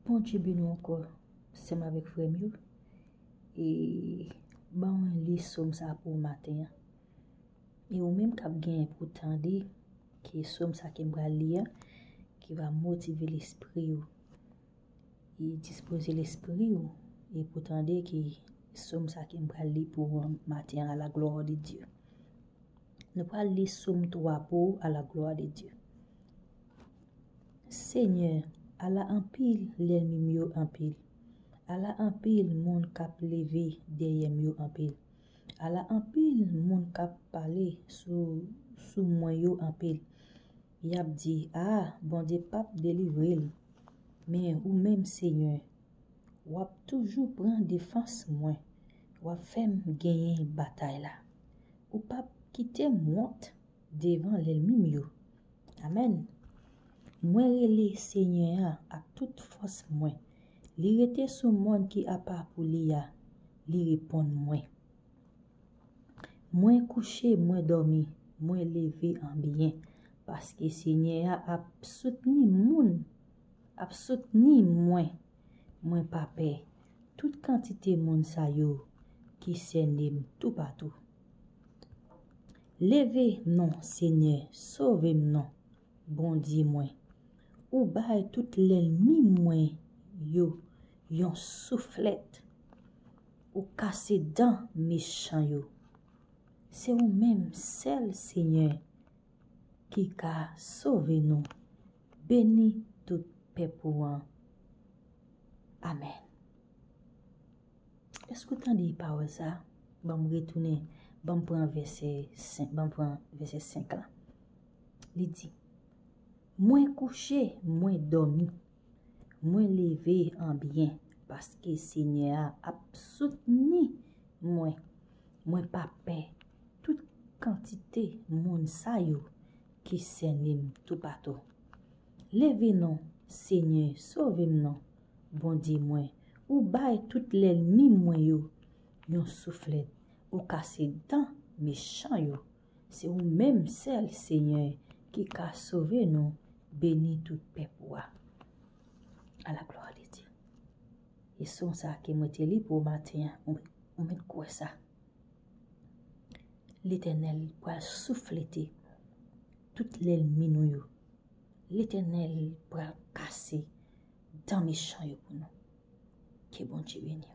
Bondye beni w ankò sè m avèk frè m yo e ba mwen li som sa pou w maten an e ou menm kap genyen pou tande ki som sa ke m pral li an ki va motive lespri w e dispoze lespri w e pou tande ki som sa ke m pral li pou w maten an a la glwa de Dye. Nou pral li Somme 3 pou ou a la glwa de Dye. Senyè, ala anpil lènmi m yo anpil, ala anpil moun k ap leve dèyè m yo anpil, ala anpil moun k ap pale sou mwen yo anpil. Y ap di, A, Bondye pap delivre l. Men, ou menm Senyè, Wap toujou pran defans mwen wap fèm genyen batay la ou pap kitem wont devan lèlmim yo amen mwen rele senyè an ak tout fòs mwen li rete sou mòn ki apa pou li a li reponn mwen mwen kouche mwen dòmi mwen leve anbyen paske senyè a ap soutni moun Ap soutni mwen, mwen pa pè tout kantite moun sa yo ki sène m toupatou. Leve non Senyè sove m non, Bondye mwen, ou bay tout lènmi mwen yo yon souflèt, ou kase dan mechan yo. Se ou menm sèl Senyè ki ka sove nou Beni tout pèp ou an. Amen. Eske ou tande pawòl sa? Ban m retounen, ban m pran vèsè 5, ban m pran vèsè 5 la. Li di, Mwen kouche, mwen dòmi, mwen leve an byen, paske Senyè a ap soutni mwen. Mwen pa pè tout kantite moun sa yo ki sène m toupatou. Leve non, Senyè, sove m non, Bondye mwen, ou bay tout lènmi mwen yo yon souflèt, ou kase dan mechan yo. Se ou menm sèl, Senyè, ki ka sove nou, beni tout pèp ou a. A la glwa de Dye. E son sa ke mwen te li pou ou maten an, ou mèt kwè sa. Letènèl pral souflete tout lènmi nou yo. Letènèl pral kase dan mechan yo pou nou. Ke Bondye beni w.